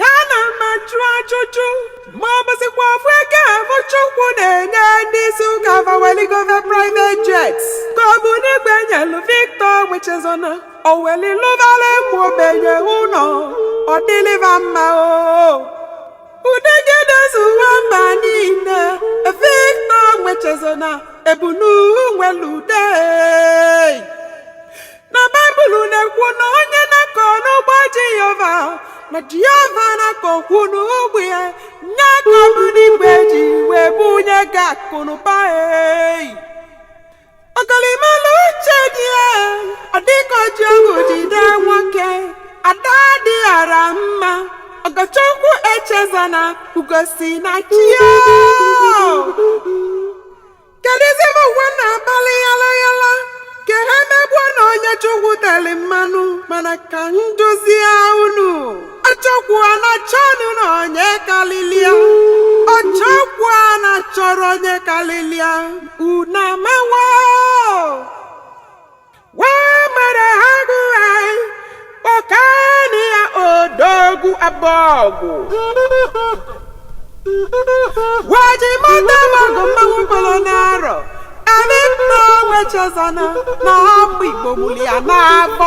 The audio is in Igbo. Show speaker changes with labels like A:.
A: ya na m ma jụọ ajụjụ ma ọ bụzikwa ofu ego afụ Chukwu na-enye ndị isi ụka fa weli gova private jets ka ọ bụ n'igwe nyelu Victor nwa Echezona o weli lụbarakwa ogbenye ụnọ ọ dịlị va mma o ude gị edezuwa mba niile Victor nwa Echezona ebunu nwelu ude na baịbụl na-ekwu na onye na-akọ n'ugbo jehova na jehova na-akọkwu n'ugbo ya nya ka ọbụ n'igwe ji wee bunye gị akụnụba ei ọgọlị malụ uche di ya ọ dịka o ji ọgwụ jide nwoke ada dị ọra mma ọgọchukwu echezona ugo si na chi ya kedụzi ụmụ ụwa na-agbalị yala yala ka ha megbuo na onye chukwu teli mmanụ mana ka m duzie unu ọchọkwu a na-achọnụ na onye kalịlị ya ọchọkwu a na-achọrọ onye kalịlị ya unu amawa odogwu abọgwụ gwaji mata magụ mmanwụ kpọrọ n'arọ anyị nna nwa echezona na ọmụ igbo mụrụ ya n'afọ